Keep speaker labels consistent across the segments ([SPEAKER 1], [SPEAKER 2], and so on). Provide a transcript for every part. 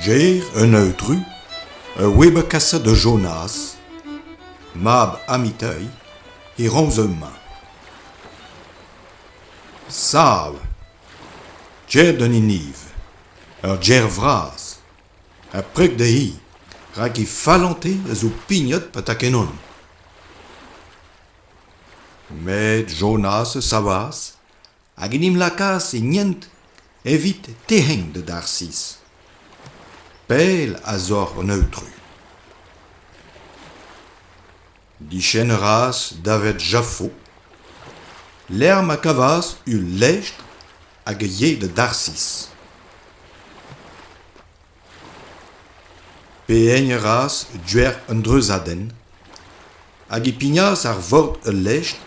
[SPEAKER 1] Ger un eudru, ur web-kaset da Jonas, mab Amiteuil, e romz hemañ. Sav! Ger d'un hiniv, ur ger vras, ha preg dezhi, rak he fallante a zo pignet patakenn on. Met Jonas a savas hag en em lakaas en hent evit tec'heng da Darsiz. Pell a-zoc'h an aotru. Diskenn a raas daved Jaffo, lec'h ma kavas ul lestr hag a yee da Darsiz. Pe'eñ a ras dec'h un dreuzadenn hag e pignas ar vord ul lestr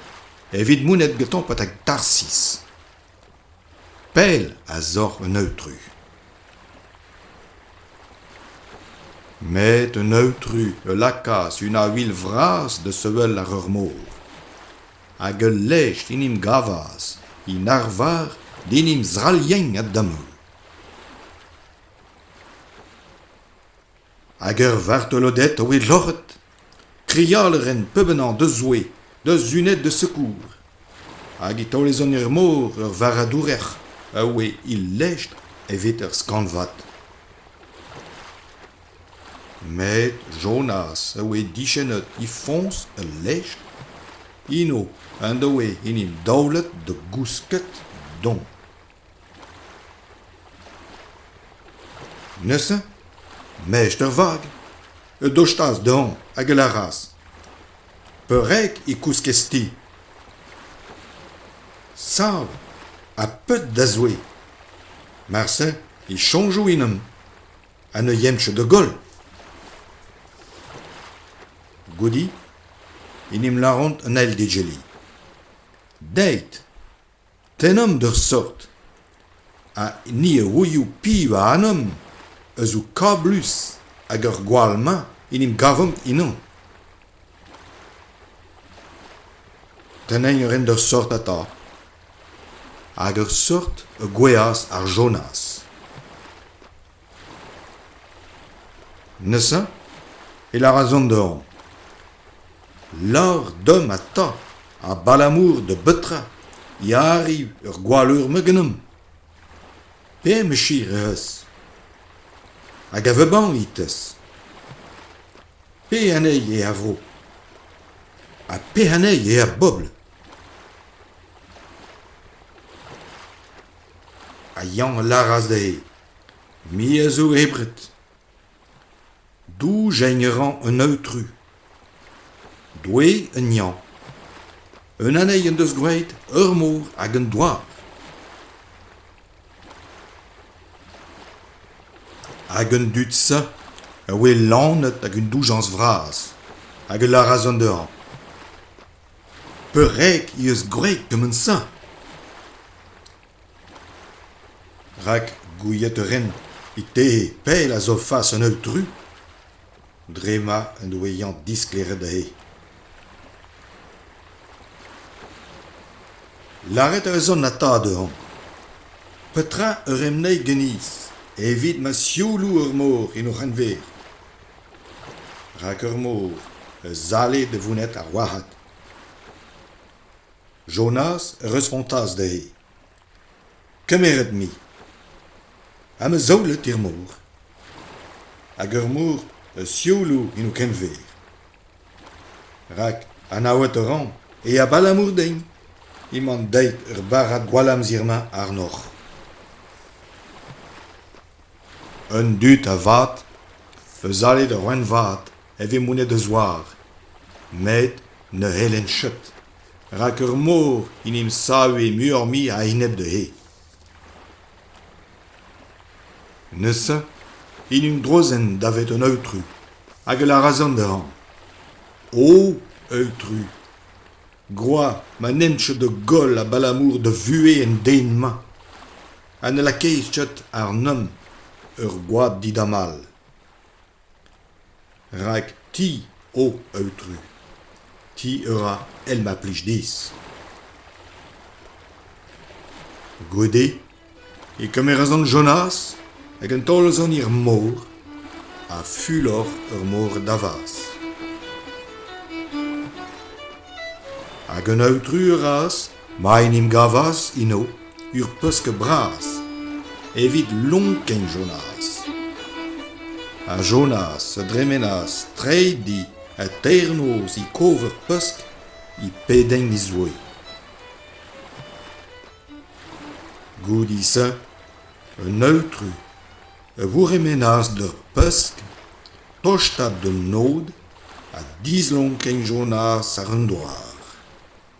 [SPEAKER 1] evit monet gantañ betek Tarsis. Pell a-zoc'h un aotru. Met un aotru a lakaas una vil vras da sevel àr ur mor. Hag ul lestr en em gavas en arvar d'en em zrallieñ a-damall. Hag ur vartoloded o e loc'het, krial a ren peubenañ da Zoue, da Zuned da sekour. Hag e taolezont er mor ur varadourer a oe e lestr evit ur skanvad. Met Jonas a oe dichennet e foñs ul lestr, eno en doe en em daolet da gousket doñ. Neuze, mech da vag, e dostaas dezhañ hag e lâras: Peurreg e kouskez ti. Sav ha peut da zoue. Marse e soñjo ennon ha ne yenvcho da goll. Goude en em lâront an eil d'egile. Deit. Tennomp d'ur seurt, ha ni a-wezhioù piv a anamp a zo kablus hag ar gwall-mañ en em gavomp ennañ. Tennañ a ren d'ur seurt atav, hag ur seurt a gouezhas ar Jonas. Neuze e lâras an dorn Lâr deomp eta abalamour da betra e arriv ur gwalleur-me ganeomp. Pemeschir eh eus? Hag a vebannit-ez? Pe anezhi eo a vro? Ha pe anezhi eo ar bobl? Ha Yann a lâras dezhe Me a zo hebret. Doujañ a ran un aotru. Doue un Iañ. Un anezhi en deus gwraet ur mor hag un douar. Hag an dud-se a oe lanet ag un doujañs vras hag a lâras an dezhañ Peurreg he eus gwraet kement-se. Rak gouiet a ren e tehe pell a zofas an holl dru dre ma en doe Yann disklêret dezhe. Lâret a reus an ata dezhañ. Petra eur em ney ganis evit ma sioulou ur mor en o c'henver? Rak ur mor a zale da vouned ar wac'had. Jonas a respontas dezhi Kemeret-me, ha ma zaolet er mor. Hag ur mor a sioullo en ho kenver. Rak anaouet a ran e abalamour din emañ deuet ur barrad gwallamzer-mañ àrnoc'h. Un dud a-vat, eus alet ur ouenn vat, e vez monet a-zoare met ne c'hellent cheut rak ur mor en em save muioc'h-mui a-enep dezhe. Neuze en em drozent davet un aotru hag a lâras dezhañ O aotru, groaz ma nent cheut da goll abalamour da vuhez an den-mañ ha ne lakaez cheut àrnomp ur gwad didamall. Rak ti oh aotru, ti a ra èl ma plij dezhi. Goude e kemeras an Jonas hag un taol eus an hir-mor ha fulor ur mor davaz. Hag un aotru a raas ma en em gavas eno ur pesk bras evit lonkenn Jonas. Ha Jonas a dremenas treiñ di ha teirnoz e kov ur pesk e pedenn e zoue. Goude-se, un aotru a vourremenas d'ur pesk tostaat d'an nod ha dislonkenn Jonas àr an douar.